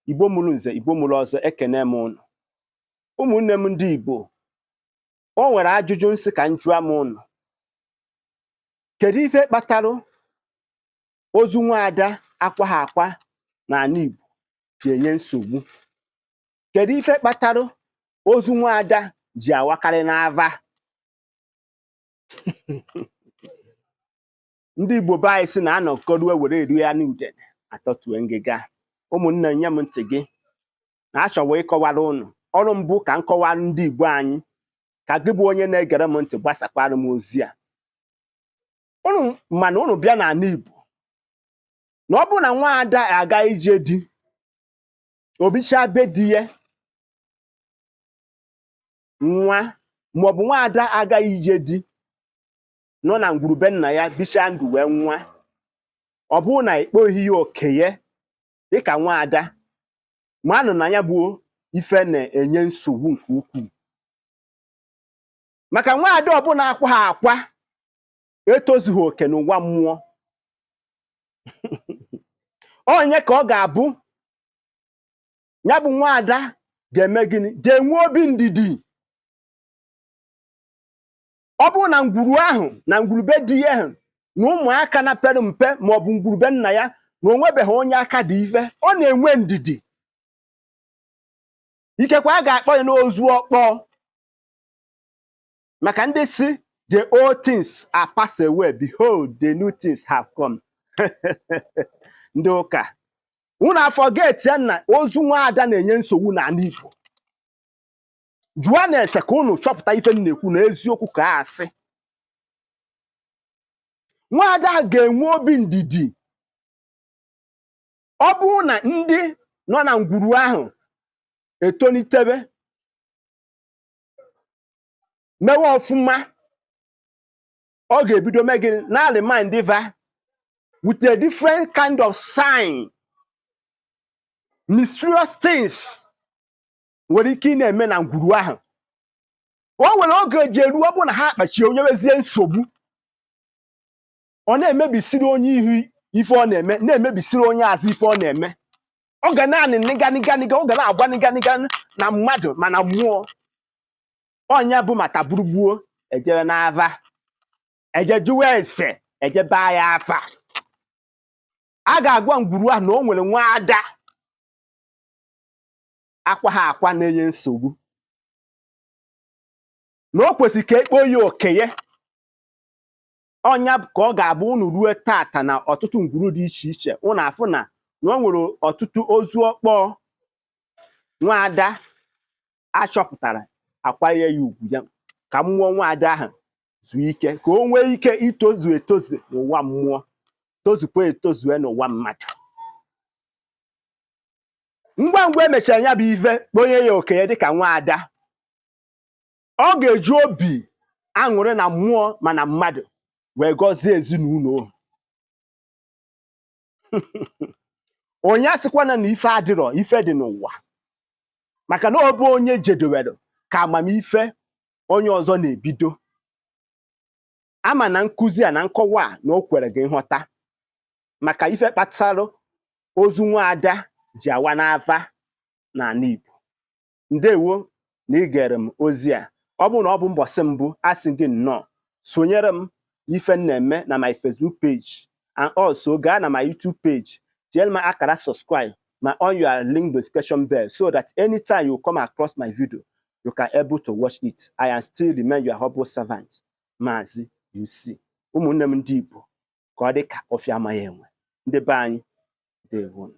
Igbo mụrụ nze Igbo mụrụ ọzọ ekene m ụnụ ụmụnne m ndị Igbo o nwere ajụjụ m sị ka m jụọ m ụnụ kedu ife kpatara ozu nwaada akwaha akwa n'ana Igbo ji enye nsogbu kedu ife kpatara ozu nwaada ji awakarị n'ava ndị igbo be anyị si na anọkọrue were erie anụ udene atọtue ngịga ụmụnne nye m ntị gị na achọwa ịkọwara ụnụ ọrụ m bụ ka m kọwara ndị igbo anyị ka gị bụ onye na-egere m ntị gbasakwara m ozi a ụnụ ma na ụnụ bịa n'ana igbo na ọ bụrụ na nwa ada aga ije di o bichaa be di ya nwụa maọbụ nwa ada agaghị ije di nọ na ngwuru be nna ya bichaa ndụ wee nwụa ọ bụrụ na ekpoghị ya oke ya dịka nwaada manụ na ya bụ ife na-enye nsogbu nke ukwuu maka nwaada ọbụla akwaha akwa etozughị oke n'ụwa mmụọ onye ka ọ ga-abụ ya bụ nwaada ga-eme gịnị ga-enwe obi ndidi ọ bụrụ na ngwuru ahụ na ngwuru be di ya ahụ na ụmụaka na pere mpe ma ọ bụ ngwuru be nna ya na o nwebeghị onye aka dị ife ọ na-enwe ndidi ikekwe a ga-akpọ ya n'ozu ọkpọ maka ndị si the old things are passed away behold the new things have come ndị ụka unu aforget ya na ozu nwa ada na-enye nsogbu n'ana Igbo jụọnụ ese ka unu chọpụta ife m na-ekwu na eziokwu ka ọ asị nwaada a ga-enwe obi ndidi ọ bụrụ na ndị nọ na ngwuru ahụ etolitebe mewe ọfụma ọ ga-ebido mee gịnị na-aremind va with a different kind of sign mysterious things nwere ike ịna-eme na ngwuru ahụ o nwere oge eji eruo ọ bụ na ha akpachie o nyewezie nsogbu ọ na-emebisiri onye ihu ife ọ na-eme na-emebisiri onye azụ ife ọ na-eme ọ ga naanị nịganịganịga ọ ga na-agwa nịganịga na mmadụ ma na mmụọ ọnya bụ mata gburugbuo e je n'ava e je jụwa ese e je gbaa ya afa a ga-agwa ngwuru ahụ na o nwere nwa ada akwa ha akwa na-enye nsogbu na o kwesịrị ka e kpo ya okenye ọ nya ka ọ ga-abụ unu ruo taata n'ọtụtụ ngwuru dị iche iche unu afụ na na o nwere ọtụtụ ozu ọkpọọ nwaada a chọpụtara a kwanye ya ugwu ya ka mmụọ nwaada ahụ zuo ike ka o nwee ike itozu etozu n'ụwa mmụọ tozukwa etozue n'ụwa mmadụ ngwa ngwa e mechara ya bụ ife kponye ya okenye dịka nwa ada ọ ga-eji obi aṅụrị na mmụọ ma na mmadụ wee gọzie ezinụlọ ahụ onye asịkwana na ife adịrọ ife dị n'ụwa maka na ọ bụ ebe onye jedewere ka amamife onye ọzọ na-ebido ama m na nkuzi a na nkọwa a na o kwere gị nghọta maka ife kpatara ozu nwaada ji awa n'afa n'ana Igbo ndewo na ị gere m ozi a ọ bụrụ na ọ bụ mbọsị mbụ a sị gị nnọọ sonyere m n'ife m na-eme na my Facebook page and also gaa na my YouTube page tinyere m akara subscribe ma on your link notification bell so that anytime you come across my video you can able to watch it i am still remain your humble servant maazị UC ụmụnne m ndị Igbo ka ọ dị ka ọfịa amaghị enwe ndị be anyị deewonụ